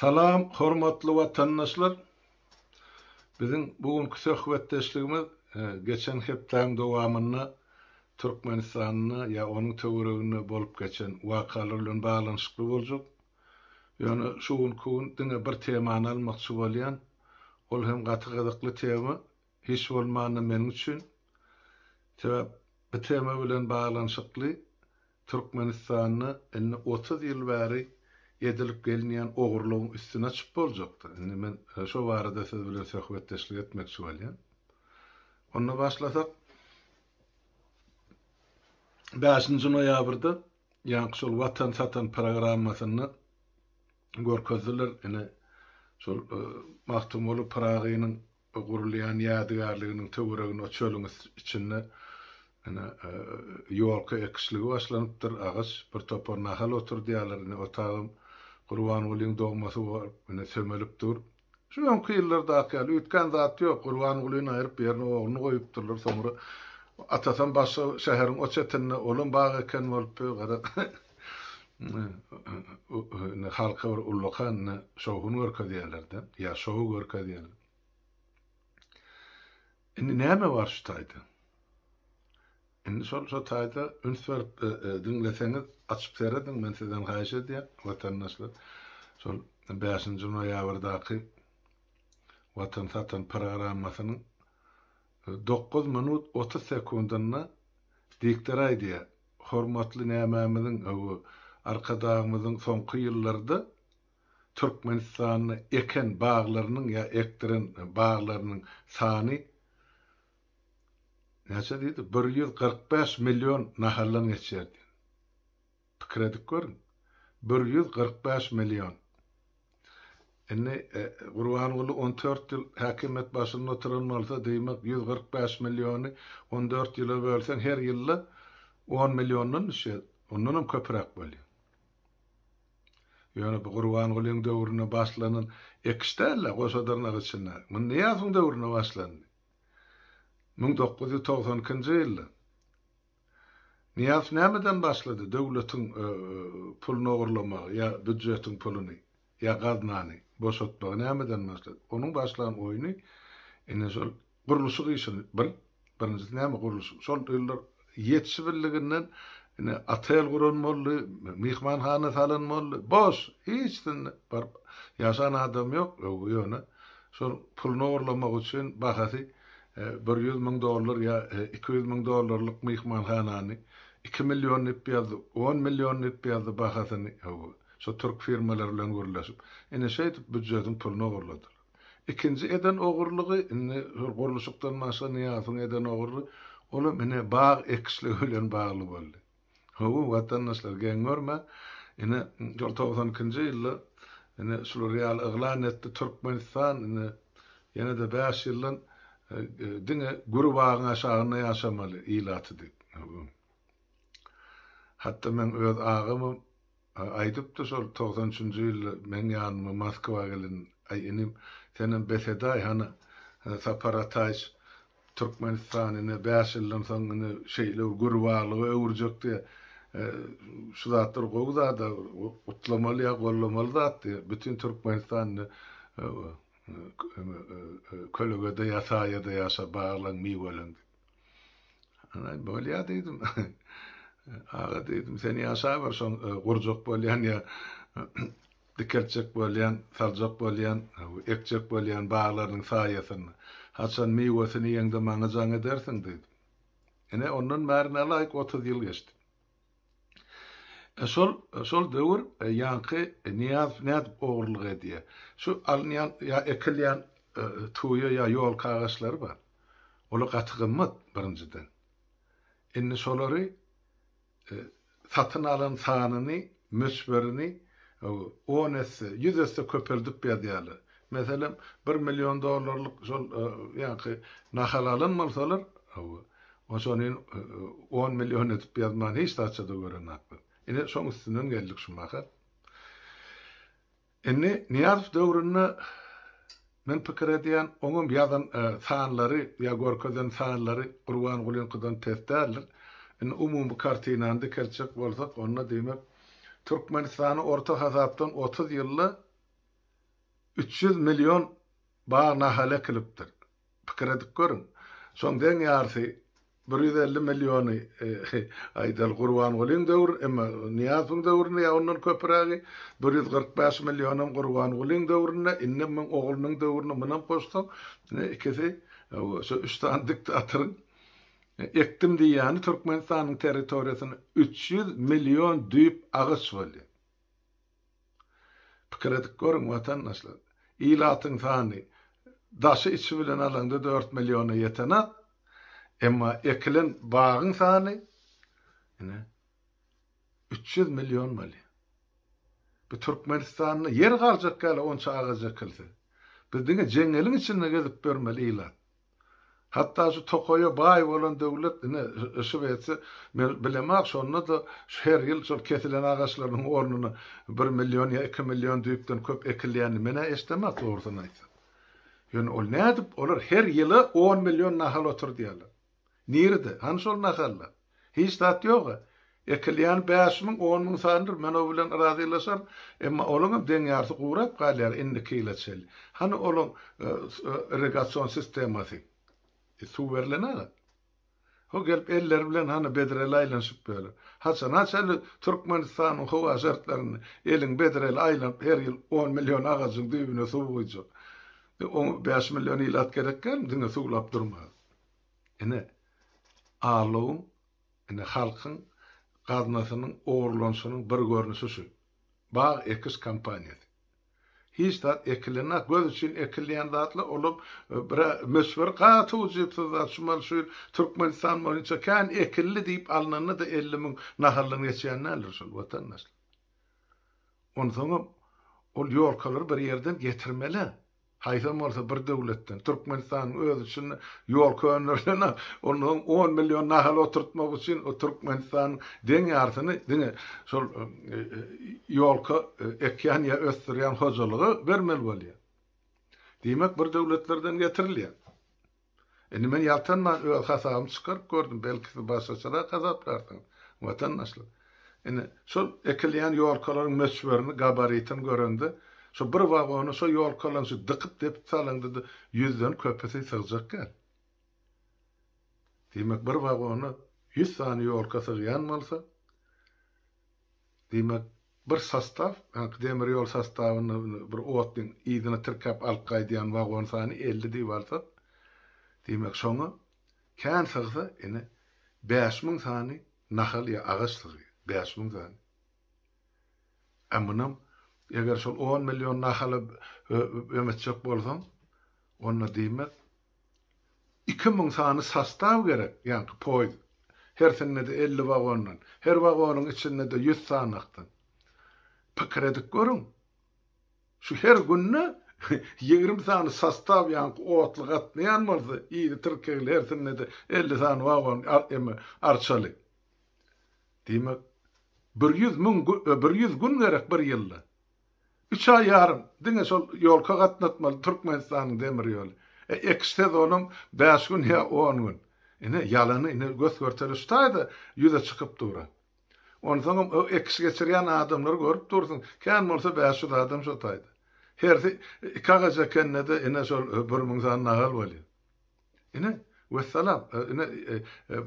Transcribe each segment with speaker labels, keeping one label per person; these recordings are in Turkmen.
Speaker 1: Salam, hormatly watandaşlar! Biziň bu günki söhbetdeşligimiz geçen hepdäň dowamynda Türkmenistanda ýa onuň töwereginde bolup geçen wakalar bilen baglanyşykly boljak. Ýöne şu günki gün diňe bir temany almakçy bolýan. Ol hem gaty gyzykly tema, hiç bolmanda meniň üçin. Sebäp bu tema bilen baglanyşykly Türkmenistanda indi otuz ýyl bäri edilip gelinýän ogurlygyň üstüne çyp boljakda, indi men şo barada siz bilen söhbetdeşlik etmekçi bolýan. Onda başlasak, bäşinji noýabrda ýaňky şol Watan satan programmasynda görkezdiler, ine, şol Magtymguly Pyragynyň Bu gurulýan ýadygärliginiň töweregini çölüň içinde ine, ýolka ekişligi başlanypdyr. Agaç, bir topar nahal oturdýarlar. Ine, otagam Gurbangulyň dogmasy bolup, ine, sömelip dur. Şu öňki ýyllardaky ýaly, üýtgän zat ýok. Gurbangulyny aýryp, ýerine ogluny goýupdyrlar. Soňra atasam başga şäheriň o çetinde, olam bag eken bolupdy. Gara, halka bir ullakan şowhun görkezýärler-de, ýa şou görkezýärler. Indi näme bar şu taýda? Indi şol şu taýda üns berip diňleseňiz, açyp serediň, men sizden haýyş edýän, watandaşlar. Şol 5-nji noýabrdaky Watan satan programmasynyň Dokuz minut otuz sekundynda diktor aýdýar, hormatly nämämiziň, hawa, Arkadagymyzyň soňky ýyllarda Türkmenistanda eken baglarynyň ýa ekdiren baglarynyň sany näçe diýdi, bir ýüz kyrk bäş million nahaldan geçýär diýdi. Pikir edip görüň. Bir ýüz kyrk bäş million. Indi Gurbanguly on dört ýyl häkimiýet başynda oturan bolsa, diýmek, ýüz kyrk bäş milliony on dört ýyla bölseň, her ýylda on milliondan düşýär. Ondanam köpräk bolýar. Ýöne bu Gurbangulyň döwründe başlanan ekiş däl-ä, goşadyrnak içinde. Muny Nyýazowyň döwründe başlandy. Müň dokuz ýüz togsan ikinji ýylda. Nyýaz nämeden başlady döwletiň puluny ogurlamagy ýa býudjetiň puluny ýa gaznany boşatmagy nämeden başlady onuň başlan oýny ine şol gurluşyk işini bir birinjisi näme gurluşyk şol ýyllar ýetişibilliginden ine otel guran boldy myhmanhana salan boldy boş hiç zynda baryp ýaşan adam ýok öwgi ýöne şol puluny ogurlamak üçin bahasy Bir ýüz müň dollar ýa iki ýüz müň dollarlyk myhmanhanany iki million dip ýazdy, on million dip ýazdy bahasyny hawa, şo türk firmalary bilen gürleşip. Ine şeýdip býujetiň pulyny ogurladylar. Ikinji eden ogurlygy indi şol gurluşykdan başga Nyýazowyň eden ogurly, olam ine bag ekişligi bilen bagly boldy. Hawa, watandaşlar, geň görme, ine, şol togsan ikinji ýylda, ine, şular ýaly yglan etdi, Türkmenistan, ine, ýene-de bäş ýyldan diňe güri bagyň aşagynda ýaşamaly ilaty diýip. Hatda meň öz agamam Aýdypdy şol togsan üçünji ýylda meň ýanyma Moskwa gelen, Aý inim, senem bes edaý hany, Sapar Ataýyç Türkmenistan ine bäş ýyldan soň ine şeýle bir gürbalyga öwürjek diýe, şu zatlar gowy zada, gutlamaly ýa gollamaly zat diýe, bütin Türkmenistan indi kölegede ýa saýada ýaşa, baglaň miweleň diýip. Ana bolýa diýdim. Aga diýdim, sen ýaşaber şoň e, gurjak bolýan ýa dikeltjek bolýan, saljak bolýan, e, ekjek bolýan baglarynyň saýasynda. Haçan miwesini ýeňde maňa jaň edersiň diýdim. Ine ondan bäri nälaýyk 30 ýyl geçdi. Şol şol döwür ýaňky Nyýazow nädip ogurlyk edýär? Şu alynýan ýa ekilýän tuýa ýa ýolka agaçlary bar. Olar gaty gymmat, birinjiden. Indi şolary satyn alan sanyny, möçberini on esse, ýüz esse köpeldip ýazýarlar. Meselem, bir million dollarlyk şol ýaňky nahal alan bolsalar, hawa, oçonin on million edip ýazman hiç zatça-da görenoklar. Ine, şoň üstünden geldik şu mahal. Indi Nyýazow döwründe men pikir edýän, oňam ýazan sanlary ýa görkezen sanlary Gurbangulyňkydan pes däldir. Indi umumy kartinany dikeltjek bolsak, onda diýmek, Türkmenistany orta hasapdan otuz ýylda Üç ýüz million bag nahaly ekilipdir. Pikir edip görüň. Şoň deň ýarsy bir ýüz elli milliony aýdaly Gurbangulyň döwrün, emma Nyýazowyň döwründe ýa ondan köpürägi bir ýüz kyrk bäş millionam Gurbangulyň döwründe, indem muň oglunyň döwrüne munam goşsaň, ine ikisi şu üç sany diktatoryň ekdim diýýäni Türkmenistanyň territoriýasyna üç ýüz million düýp agaç bolýar. Pikir edip görüň, watandaşlar, ilatyň sany daşy-içi bilen alaňda dört milliona ýetenok, emma ekilen bagyň sany, ine, üç ýüz million bolýar. Bu Türkmenistanda ýer galjak ýaly onça agaç ekilse, biz diňe jeňňeliň içinde gezip ýörmeli ilat. Hatda şu tokaýa baý bolan döwlet ine yşyp etse, men bilemok, şonda-da her ýyl şol kesilen agaçlarynyň ornuna bir million ýa iki million düýpden köp ekilýänini men-ä eşidemok, dogrusyny aýtsam. Ýöne ol nädip, olar her ýyla on million nahal oturdýarlar. Nirede, hany şol nahallar? Hiç zat ýog-a. Ekilýäni bäş müň, on müň sanydyr, men o bilen razylaşaryn. Emma olaňam deň ýarysy gurap galýar indiki ýyla çenli. Hany olaň irrigasion sistemasy? Suw berlen-a. Ho gelip elleri bilen hany bedreli aýlanyşyp ýörler. Haçana çenli Türkmenistanyň howa şertlerinde eliň bedreli aýlanyp her ýyl on million agajyň düýbüne suw guýjak? Oňa bäş million ilat gerek dälmi diňe suwlap durmaga? Ine, Allowyň, ine, halkyň gaznasynyň ogurlanyşynyň bir görnüşi şu, bag ekiş kampaniýasy. Hiç zat ekilenok, göz üçin ekilýän zatlar, olam bir möçberi gaty ujypsyz zat, şu maly şu ýyl Türkmenistan boýunça kän ekildi diýip alnanda-da elli müň nahaldan geçýän däldir şol, watandaşlar. Onsoňam, ol ýolkalary bir ýerden getirmeli-ä. Haýsam bolsa bir döwletden, Türkmenistanyň özi üçin ýol könderilenok, onda soň on million nahal oturtmak üçin o Türkmenistanyň deň ýarsyny diňe şol ýolka ekýän ýa ösdürýän hojalyga bermeli bolýar. Diýmek bir döwletlerden getirilýär. Indi men ýaltanman öz hasabymy çykaryp gördüm, belki siz başgaçarak hasaplarsyňyz, watandaşlar. Indi şol ekilýän ýolkalaryň möçberini, gabaritini görende, şu bir wagona şo ýolkalaryň şu dykyp-depip salyndy-da ýüzden köpüsi sygjak däl. Diýmek, bir wagona ýüz sany ýolka sygýan bolsa, Diýmek, bir sostaw, ýagny demir ýol sostawynda bir otlyň yzyna tirkäp alyp gaýdýan wagon sany elli diýip alsak, diýmek, şoňa kän sygsa, ine, bäş müň sany nahal ýa agaç sygýar. Bäş müň sany. A munam, eger şol on million nahala öwmetjek bolsaň, onda diýmek, Iki müň sany sostaw gerek, ýaňky poýiz hersinde-de elli wagondan, her wagonyň içinde-de ýüz sanakdan. Pikir edip görüň, şu her günde ýigrimi sany sostaw ýaňky otly gatnaýan bolsa, ýedi tirkegli hersinde-de elli sany wagon, eme, arçaly. Diýmek, bir ýüz müň, bir ýüz gün gerek bir ýylda. Üç aý ýarym diňe şol ýolka gatnatmaly Türkmenistanyň demir ýoly. E ekiş sezonyň bäş gün ýa on gün. Ine, ýalany ine gös-görtele şu taýda ýüze çykyp dur. Onsoňam o ekiş geçirýän adamlary görüp dursuň, kän bolsa bäş ýüz adam şo taýda. Hersi iki agaç ekende-de ine şol bir müň sany nagal bolýar. Ine, wessalam, ine,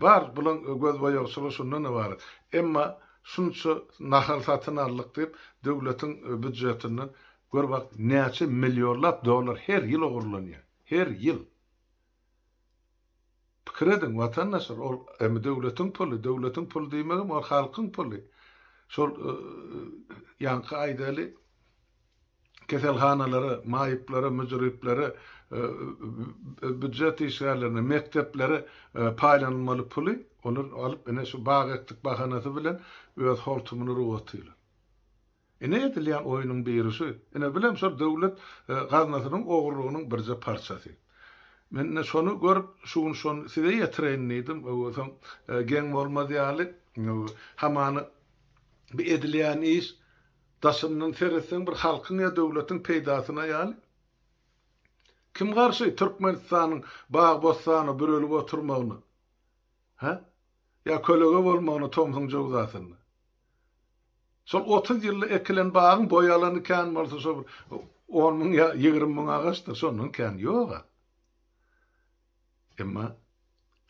Speaker 1: bar, bulaň gözboýagçylygy şundan ybarat. Emma şunça nahal satyn aldyk diýip, döwletiň býujetinden, gör bak, näçe millionlap dollar her ýyl ogurlanýar. Her ýyl. Pikir ediň, watandaşlar, ol hem döwletiň puly, döwletiň puly diýmegem, ol halkyň puly. Şol ýaňky aýdaly, keselhanalara, maýyplara, müjriplere, býujet işgärlerine, mekdeplere paýlanylmaly puly olar alyp, ine şu bag ekdik bahanasy bilen öz hortumyny ruh atýarlar. Ine edilýän oýnuň biri şu. Ine bu hem şol döwlet gaznasynyň ogurlygynyň birje parçasy. Men ine şony görüp, şu gün şony size ýetireýin diýdim. Soň geň bolmaz ýaly, hamany bu edilýän iş Daşyndan seretseň bir halkyň ýa döwletiň peýdasyna ýaly. Kim garşy Türkmenistanyň bag-bossana bürelip oturmagyna? Hä? Ýa kölege bolmagyna tomsuň jöwzasynda? Şol otuz ýylda ekilen bagyň boý alany kän bolsa şo bir on müň ýa ýigrimi müň agaçdyr, şondan kän ýog-a. Emma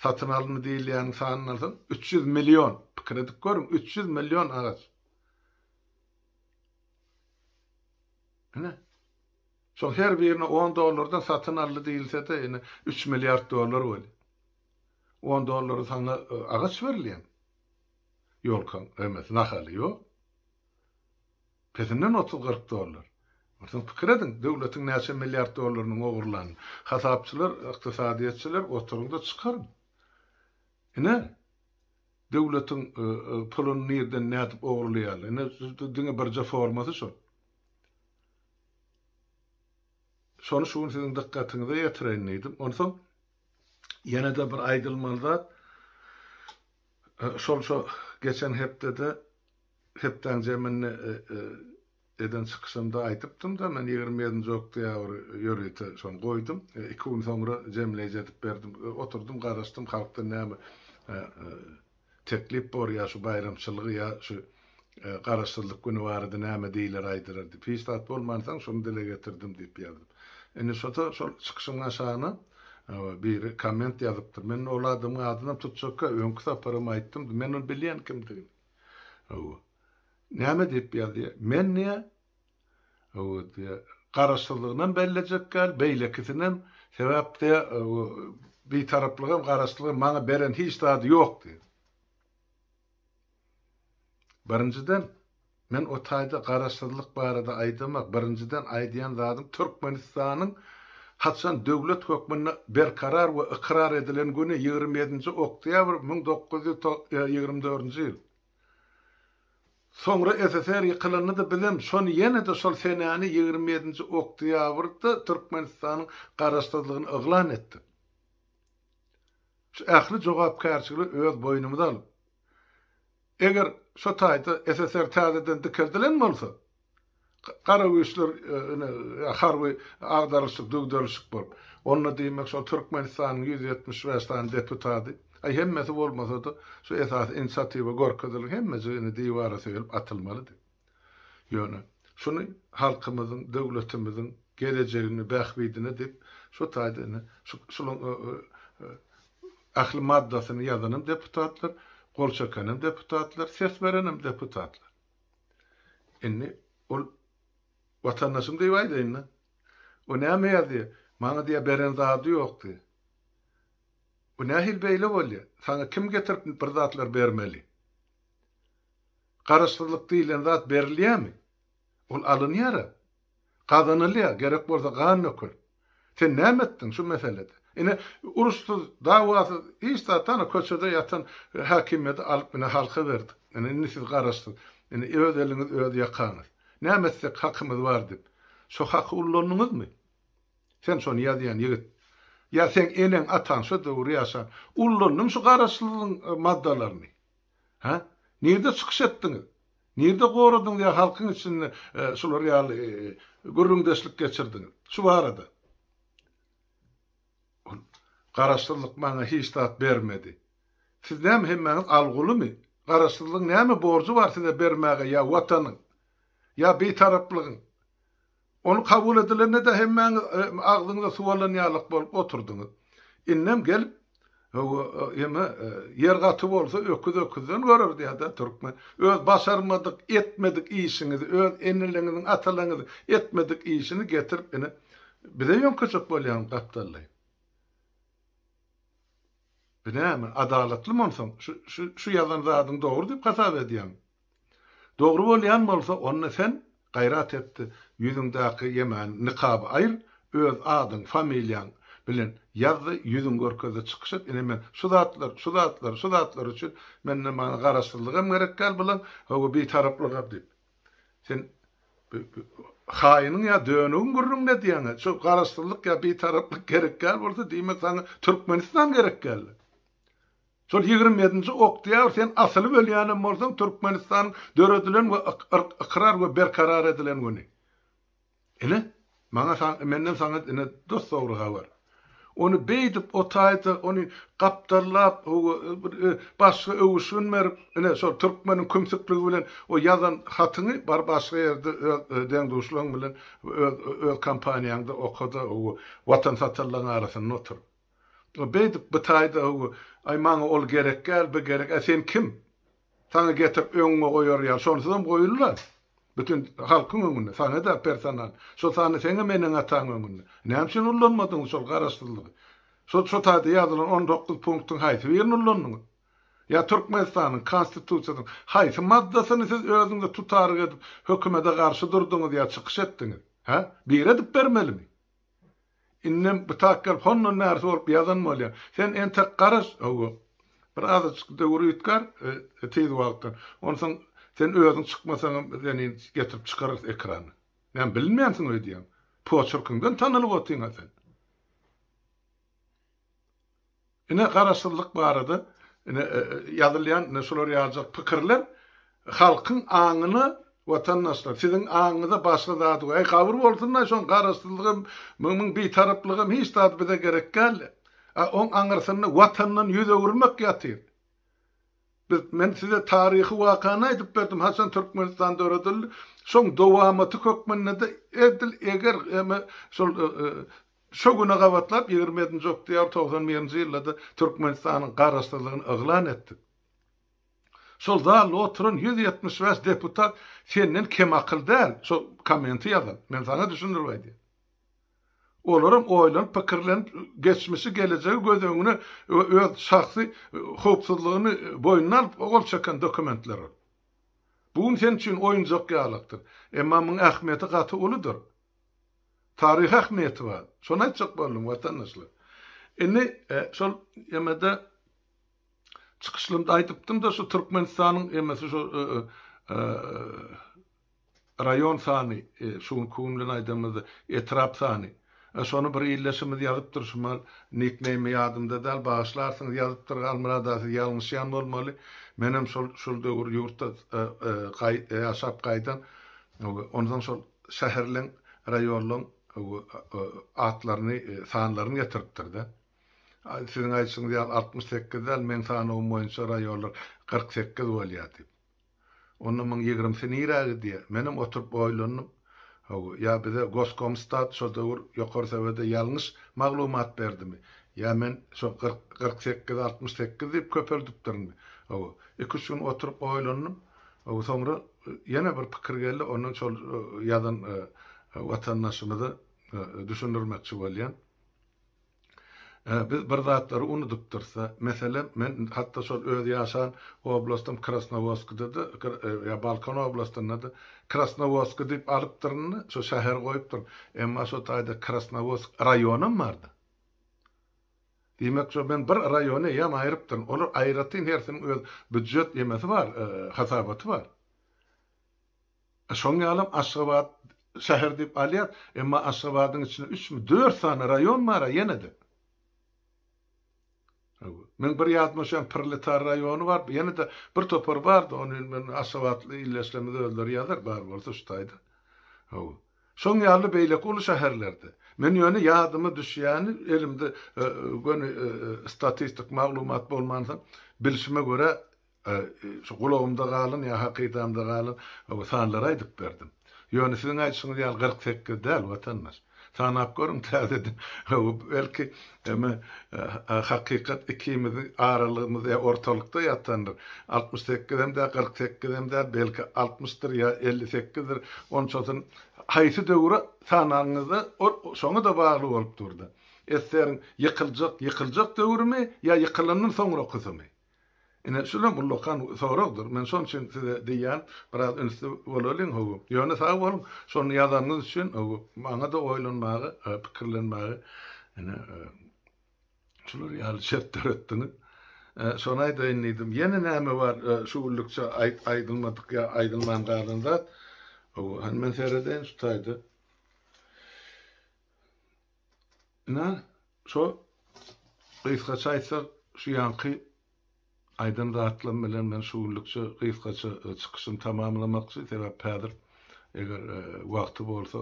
Speaker 1: satyn alyndy diýilýäniň sanyny alsaň, üç ýüz million, pikir edip görüň, üç ýüz million agaç. Ine, şol her birini on dollardan satyn aldy diýilse-de, ine, üç milliard dollar bolýar. On dollara saňa agaç berilýärmi? Ýolkaň, emes, nahaly, ýok. Pesinden otuz-kyrk dollar. Onsoň pikir ediň, döwletiň näçe milliard dollarynyň ogurlanyny. Hasapçylar, ykdysadyýetçiler, oturyň-da, çykaryň. Ine, döwletiň puluny nirden nädip ogurlaýarlar? Ine, diňe birje formasy şol. Şony şu gün siziň dykgatyňyza ýetireýin diýdim. Onsoň ýene-de bir aýdylmaly zat, şol şu geçen hepdede, hepdäň jeminde Eden çykyşymda aýdypdym-da, men ýigrimi ýedinji oktýabr ýörite şony goýdum. Iki gün soňra jemleýji edip berdim. Oturdym, garaşdym, halkdan näme teklip bor, ýa şu baýramçylygy, ýa şu Garaşsyzlyk güni barada näme diýler, aýdylar diýip. Hiç zat bolmansoň, şuny dile getirdim diýip ýazdym. Indi şo-da şol çykyşyň aşagyna biri komment ýazypdyr. Men ol adamyň adynam tutjakka, öňki saparam aýtdym, men ony bilýän kimdigini. Hawa. Näme diýip ýazýa? Men diýä, hawa diýä, garaşsyzlygynam bellejek däl, beýlekisinäm, sebäp diýä, hawa, Bitaraplygam, garaşsyzlygam maňa beren hiç zady ýok diýä. Birinjiden, men o taýda garaşsyzlyk barada aýdamak, birinjiden aýdýan zadym Türkmenistanyň haçan döwlet hökmünde berkarar we ykrar edilen güni ýigrimi ýedinji oktýabr müň dokuz ýüz ýigrimi dördünji ýyl. Soňra SSR ýykylandy-da bizem şony ýene-de şol senäni ýigrimi ýedinji oktýabrda Türkmenistanyň garaşsyzlygyny yglan etdik. Şu ähli jogapkärçiligi öz boýnumyza alyp, eger şu taýda SSR täzeden dikeldilen bolsa, Gara güýçler ine harby agdaryşyk-düwderişik bolup, onda diýmek şol Türkmenistanyň ýüz ýetmiş bäş sany deputaty, aý hemmesi bolmasa-da, şu esasy inisiatiwa görkezilip, hemmejigi indi diwara söýelip atylmalydy. Ýöne, şuny halkymyzyň, döwletimiziň gelejegini, bähbidine diýip, şu taýda ine şu şulaň ähli maddasyny ýazanym deputatlar, gol çekenim deputatlar, ses berenim deputatlar. Indi ol watandaşym diýip aýdaýyn-da. O näme ýazýar? Maňa diýýär beren zady ýok diýýär. Bu nähili beýle bolýar? Saňa kim getirip bir zatlar bermeli? Garaşsyzlyk diýlen zat berilýärmi? Ol alynýar-a. Gazanylýar, gerek bolsa gan dökül. Sen näme etdiň şu meselede? Ine, uruşsyz, dawasyz, hiç zat, ana, köçede ýatan häkimiýeti alyp, ine, halka berdik. Ine, indi siz garaşsyz. Ine, öz eliňiz, öz ýakaňyz. Näme etsek hakymyz bar diýip, şo haky ullandyňyzmy? Sen şony ýazýan ýigit. Ýa seň eneň, ataň şo döwür ýaşan. Ullandyň şu garaşsyzlygyň maddalaryny. Hä? Nirde çykyş etdiňiz? Nirde goradyňyz ýa halkyň içinde şular ýaly gürrüňdeşlik geçirdiňiz? Şu barada. Ol, Garaşsyzlyk maňa hiç zat bermedi. Siz näme hemmäňiz algulymy? Garaşsyzlygyň näme borjy bar size bermäge ýa Watanyň? Ýa Bitaraplygyň? Ony kabul edilende-de hemmäňiz agzyňyza suw alan ýalyk bolup oturdyňyz. Indem gelip, Ýeme, ýer gaty bolsa, öküz öküzden görer diýýär-dä türkmen. Öz başarmadyk, etmedik işiňizi, öz eneleňiziň, atalaňyzyň etmedik işini getirip ine, bize ýöňkejek bolýaňyz gapdallaý. Bu näme, adalatlymy onsoň? Şu ýazan zadyň dogry diýip hasap edýäňmi? Dogry bolýan bolsa onda sen gaýrat etdi ýüzüňdäki ýemäni nikaby aýyr öz adyň familiýaň bilen ýazdy ýüzüň görkezde çykyş et ine men şu zatlar şu zatlar şu zatlar üçin menden maňa garaşsyzlygam gerek däl bulam hawa bitaraplygam diýip sen haýynyň ýa dönügiň gürrüňine diýäňä şu garaşsyzlyk ýa bitaraplyk gerek däl bolsa diýmek saňa türkmenistan gerek däldi. Şol ýigrimi ýedinji oktýabr sen asylyp ölýänem bolsaň Türkmenistanyň döredilen we ykrar we berkarar edilen güni. Ine, maňa menden saňa ine dos dogry habar. Ony beýdip otaýsa, ony gapdallap, bir başga öwüşgin berip, ine şol türkmeniň kümsükligi bilen o ýazan hatyňy bar başga ýerde öz deň-duşlaň bilen öz öz kompaniýaňda oka-da, Watan satarlaryň arasynda otur. Beýdip, bytaýda, Aý, maňa ol gerekgäl, bi gerek, ä sen kim? Saňa getirip öňüňe goýar ýaly, şonsuzam goýul-la. Bütin halkyň öňünde, saňa-da personal. Şo sany seňem eneň-ataň öňünde. Näme üçin ullanmadyňyz şol garaşsyzlygy? Şo şotaýda ýazylan on dokuz punktyň haýsy birini ullandyňyz? Ýa Türkmenistanyň Konstitusiýasynyň haýsy maddasyny siz özüňize tutaryk edip, hökümede garşy durduňyz ýa çykyş etdiňiz? Hä? Biri edip bermelimi? Indem gytak gelip hondan bärisi bolup ýazan bolýar. Sen entek garaş, hawa, bir azajyk döwür üýtgär tiz wagtdan. Onsoň sen özüň çykmasaňam biz seni getirip çykararys ekrana. Näme bilinmänsiň öýdýäňmi? Poçerkiňden tanalyp otyň-a sen. Ine garaşsyzlyk barada ine ýazylýan ine şular ýaljak pikirler halkyň aňyna watandaşlar siziň aňyňyza başga zady äý gabyr bolsunlaý şoň garaşsyzlygam mmm bitaraplygam hiç zady bize gerek däldi a oň aňyrsynda watandan ýüz öwürmek ýatyr biz men size taryhy wakany aýdyp berdim haçan Türkmenistan döredildi şoň dowamaty hökmündede edil eger eme şol Şu güne gabatlap ýigrimi ýedinji oktýabr togsan birinji ýylda-da Türkmenistanyň Garaşsyzlygyny yglan etdik. Şol zalda oturan ýüz ýetmiş bäş deputat senden kem akyl däl, şo kommenti ýazan. Men saňa düşündirip aýdýan. Olaram oýlanyp, pikirlenip, geçmişi, gelejegi göz öňüne we öz şahsy howpsuzlygyny boýnuna alyp gol çeken dokumentler ol. Bu gün sen üçin oýunjak ýalakdyr. Emma muň ähmiýeti gaty uludyr. Taryhy ähmiýeti bar. Şony aýtjak boldum, watandaşlar. Indi şol emede çykyşlarymda aýdypdym-da, şu Türkmenistanyň emesi şu raýon sany, şu günki gün bilen aýdanymyzda etrap sany. Şony bir ildeşimiz ýazypdyr, şu mal nikneými ýadymda däl, bagyşlarsyňyz, ýazypdyr, Halmyrat aga, siz ýalňyşýan bolmaly. Menem şol döwür ýurtda ýaşap gaýdan, onsoň şol şäherleň, raýonlaň atlaryny, sanlaryny getiripdir-de. Siziň aýdyşyňyz ýaly altmyş sekiz däl, meň sanawym boýunça raýonlar kyrk sekiz bolýar diýip. Onda muň ýigrimisi nirä gidýär? Menem oturyp oýlandym. Hawa, ýa bize Goskomstat şo döwür Ýokary Sowete ýalňyş maglumat berdimi? Ýa men şo kyrk, kyrk sekizi altmyş sekiz diýip köpeldipdirinmi? Hawa, iki-üç gün oturyp oýlandym. Soňra ýene bir pikir geldi, ondan şol ýazan watandaşymyza düşündirmekçi bolýan. Biz bir zatlary unudypdyrys-da. Meselem, men hatda şol öz ýaşan oblastym Krasnowodskda-da, ýa Balkan oblastynda-da Krasnowodsk diýip alypdyryn-da, şo şäher goýupdyryn. Emma şo taýda Krasnowodsk raýonam bar-da. Diýmek, şo men bir raýony eýýäm aýrypdyryn. Olar aýratyn hersiniň öz býujet emesi bar, hasabaty bar. Şoň ýalam Aşgabat şäher diýip alýas, emma Aşgabadyň içinde üçmi, dört sany raýon bar-a ýene-de. Men bir ýadyma düşýän Proletar raýony bar, ýene-de bir topar bar-da, ony indi men aşgabatly ildeşlerimiz özleri ýazar, bar bolsa şu taýda. Hawa. Şoň ýaly beýleki uly şäherlerde. Men ýöne ýadyma düşýäni, elimde göni statistik maglumat bolmansoň, bilşime görä, şu gulagymda galan ýa hakydamda galan sanlary aýdyp berdim. Ýöne siziň aýdyşyňyz ýaly kyrk sekiz däl, watandaş. Sanap görüň täzeden. Belki, Emma hakykat ikimiziň aralygymyz ýa ortalykda ýatandyr, altmyş sekizem däl, kyrk sekizem däl, belki altmyşdyr ýa elli sekizdir, onçasyny haýsy döwre sanagyňyzda ol şoňa-da bagly bolup dur-da. Eseriň ýykyljak, ýykyljak döwrümi ýa ýykylandan soňrakysymy? Ine, şulam ullakan soragdyr. Men şonuň üçin size diýýän, biraz ünsli bolalyň, hawa. Ýöne sag boluň, şony ýazanyňyz üçin, hawa. Maňa-da oýlanmaga, pikirlenmäge, ine, şular ýaly şert döretdiňiz. Şony aýdaýyn diýdim. Ýene näme bar şu günlükçe aýdylmadyk ýa aýdylman galan zat? Hawa, hany men seredeýin şu taýda. Inan, şo, gysgaça aýtsak, şu ýanky aýdan zatlarym bilen men şu günlükçe gysgaça çykyşymy tamamlamakçy, sebäp häzir, eger wagty bolsa,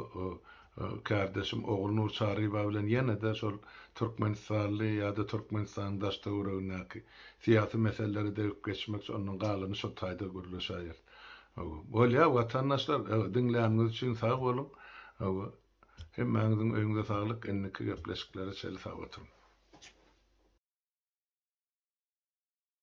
Speaker 1: kärdeşim Ogulnur Çaryba bilen ýene-de şol türkmenistanly ýa-da Türkmenistanyň daş-töweregindäki syýasy meseleleri degip geçmekçi, ondan galany şo taýda gürleşäýeris. Hawa. Bolýar, watandaşlar, diňläniňiz üçin sag boluň. Hawa. Hemmäňiziň öýüňize saglyk indiki gepleşiklere çeli sag oturyň.